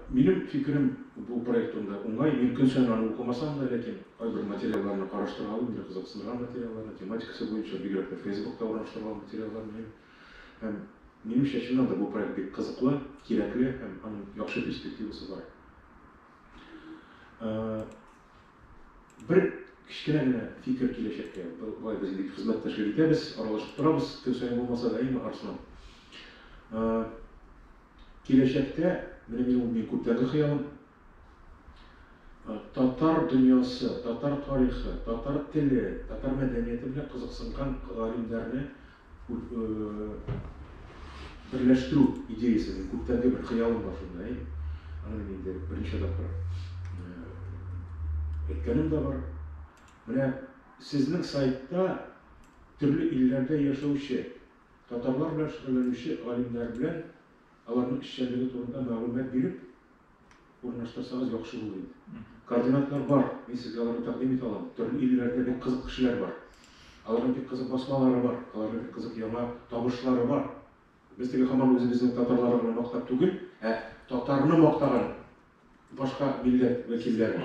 Минем фикерем бу проект турында уңай. Мин көн саен аны укымасам да, ләкин кайбер материалларны караштыргалыйм, мине кызыксындырган материалларны, тематикасы буенча, бигрәк тә Фейсбукта урнаштырылган материаллар мөһим. Һәм минемчә, чыннан да бу проект бик кызыклы, кирәкле һәм аның яхшы перспективасы бар. Бер кечкенә генә фикер киләчәккә. Болай без инде хезмәттәшлек итәбез, аралашып торабыз, көн саен булмаса да, әйеме, Арслан? Киләчәктә, менә минем ул мин күптәнге хыялым, татар дөньясы, татар тарихы, татар теле, татар мәдәнияте белән кызыксынган галимнәрне берләштерү идеясе мин күптәнге бер хыялым бар шунда әй аны мин инде берничә тапкыр әйткәнем дә бар менә сезнең сайтта төрле илләрдә яшәүче татарлар белән шөгыльләнүче галимнәр белән аларның эшчәнлеге турында мәгълүмат биреп Урнаштырсагыз яхшы булыр иде. Координатлар бар, мин сезгә аларны тәкъдим итә алам. Төрле илләрдә бик кызык кешеләр бар. Аларның бик кызык басмалары бар, аларның бик кызык яңа табышлары бар. Без теге хаман үзебезнең татарлары гына мактап түгел, ә татарны мактаган башка милләт вәкилләре.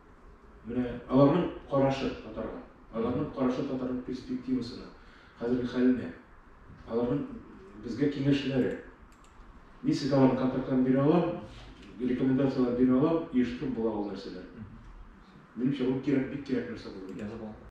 Менә аларның карашы татарга, аларның карашы татарның перспективасына, хәзерге хәленә, аларның безгә киңәшләре. Мин сезгә аларның контактларын бирә алам, рекомендацияләр бирә алам, оештырып була ул нәрсәләр. Минемчә, ул кирәк, бик кирәк нәрсә булыр.